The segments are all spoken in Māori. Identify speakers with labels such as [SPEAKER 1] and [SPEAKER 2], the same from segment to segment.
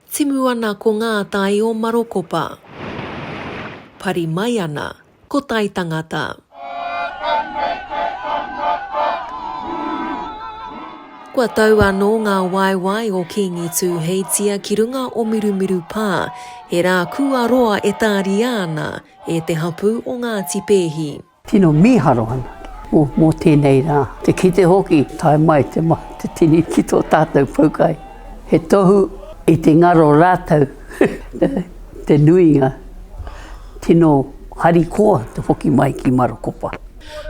[SPEAKER 1] Timu ana ko ngā tai o Marokopa. Pari mai ana ko tai tangata. Kua tau anō ngā waewae o Kīngi Tūheitia ki runga o Mirumiru Pā, he rā kua roa e tāria ana e te hapū o Ngāti Pēhi. Tino miharo
[SPEAKER 2] ana o mo tenei ra, te kite hoki tae mai te mahi te tini ki to tatou poukai. He tohu i te ngaro ratau te nuinga tino hari koa te hoki mai ki Marokopa.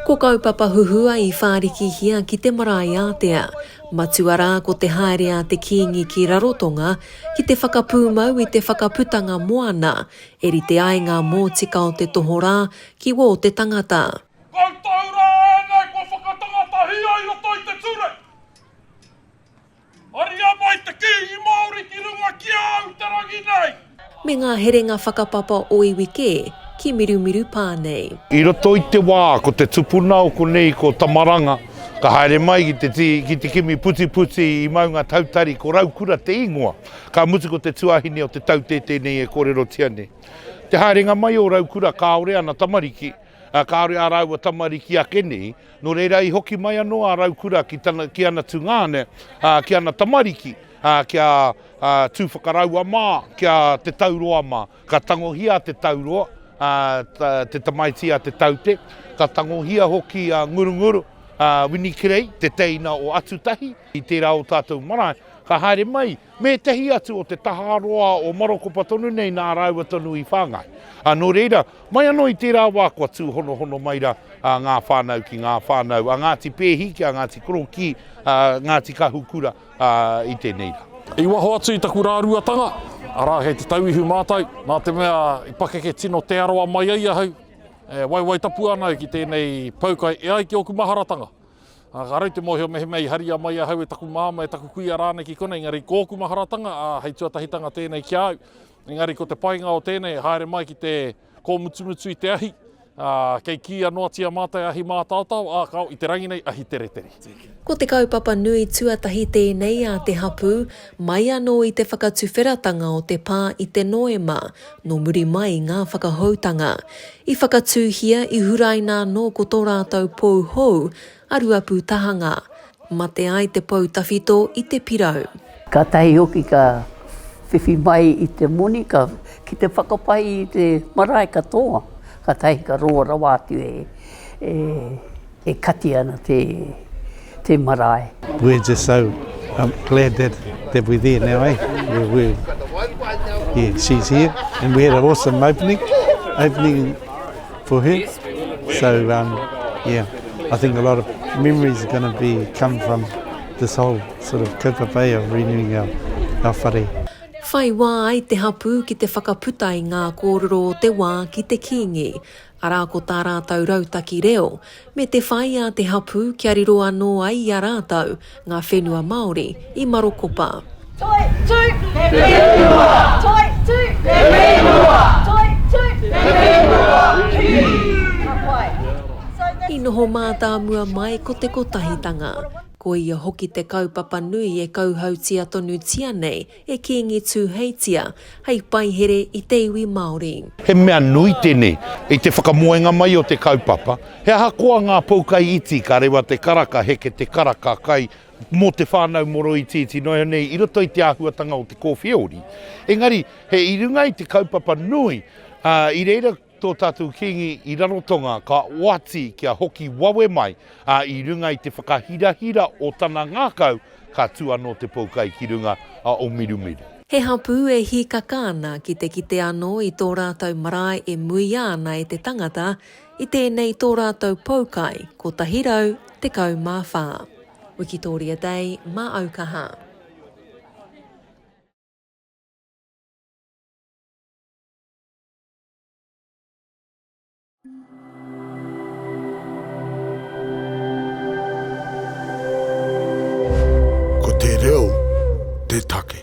[SPEAKER 2] Ko kaupapa
[SPEAKER 1] huhua i wharikihia ki te marae atea. Matua ra ko te haere a te kingi ki Rarotonga ki te whakapumau i te whakaputanga moana, e rite ai nga motika o te tohorā ki wō te tangata. Koutou
[SPEAKER 3] rā ēnei kua whakatangatahia i roto i te ture. Haria mai te Kīngi Māori ki runga ki a au te rangi nei. Me ngā herenga
[SPEAKER 1] whakapapa o iwi kē, ki Mirumiru pā nei. I roto i te wā
[SPEAKER 3] ko te tupuna o konei ko Tamaranga ka haere mai ki te ki te kimi putiputi i Maunga Tautari ko Raukura te ingoa ka mutu ko te tuahine o te taute tenei e korerotia nei. Te haerenga mai o Raukura kāore ana tamariki, ā, kāore ā rāua tamariki ake nei, nō reira i hoki mai anō a Raukura ki tana, ki ana tungāne, ā, ki ana tamariki, ā, kia, ā, tū whakaraua mā, kia te tauroa mā. Ka tangohia te tauroa, ā, ta, te tamaiti a Te Taute, ka tangohia hoki a Ngurunguru, ā, Winikirei, te teina o Atutahi, i tērā o tātou marae, ka haere mai me ētahi atu o te tahā roa o Marokopa tonu nei nā rāua tonu i whāngai. Ā, nō reira, mai anō i tērā wā kua tūhonohono mai rā ngā whānau ki ngā whānau a Ngāti Pēhi, ki a Ngāti Korokī, a Ngāti Kahukura i tēnei rā. I waho atu i taku
[SPEAKER 4] rāruatanga, arā, kei te tauihu mātai, nā te mea i pakeke tino Te Arawa mai ai ahau, e waiwai tapu ana au ki tēnei pou kai e ai ki ōku maharatanga. Ā, ka raru te mōhio mehemea i haria mai ahau e taku māmā, e taku kuia rānei ki konei, engari kōku maharatanga, ā, hei tuatahitanga tēnei ki a au. Engari ko te painga o tēnei e haere mai ki te kōmutumutu i te ahi, ā, kei kīia noatia mātai ahi mātaotao, ā, kāo, i te rangi nei, ahi teretere. Ko te kaupapa
[SPEAKER 1] nui tuatahi tēnei a te hapū, mai anō i te whakatuwheratanga o te pā i te Noema, nō muri mai i ngā whakahoutanga. I whakatūhia, i huraina anō ko tō rātou pou hou, a Ruapūtahanga. Mate ai te pou tawhito i te pirau. Kātahi hoki
[SPEAKER 2] ka whiwhi mai i te moni, ka, ki te whakapai i te marae katoa, kātahi ka roa rawa atu e, e. E kati ana te, te marae. We're just so
[SPEAKER 5] um, glad that, that we're there now, eh? We're, we're, yeah, she's here. And we had an awesome opening, opening for her. So, um, yeah, I think a lot of memories are going to be come from this whole sort of kaupapa of renewing our, our whare. Whai wā
[SPEAKER 1] ai te hapū ki te whakaputa i ngā kōrero o te wā ki te Kīngi. arā ko tā rātou rautaki reo, me te whai a te hapū kia riro anō ai i a rātou ngā whenua Māori i Marokopa. Toi tū
[SPEAKER 6] te whenua! Toi tū te whenua! Toi tū te whenua! Ka pai. I noho
[SPEAKER 1] mātāmua mai ko te kotahitanga. Ko ia hoki te kaupapa nui e kauhautia tonutia nei E Kīngi Tūheitia, hei paihere i te iwi Māori. He mea nui
[SPEAKER 3] tenei i te whakamoenga mai o te kaupapa, he ahakoa ngā poukai iti ka rewa te karaka heke te karaka kai mō te whānau moro itiiti noa iho nei i roto i te āhuatanga o te kōwhiori engari he i runga i te kaupapa nui i reira Tō tātou Kīngi i Rarotonga ka oati kia hoki wawe mai, ā, i runga i te whakahirahira o tana ngākau, ka tū anō te poukai ki runga a Omirumiru. He hapū e
[SPEAKER 1] hīkaka ana ki te kite anō i tō rātou marae e muia ana e te tangata i tēnei tō rātou poukai 114. Wikitoria Day mā Aukaha. Ko te reo te take.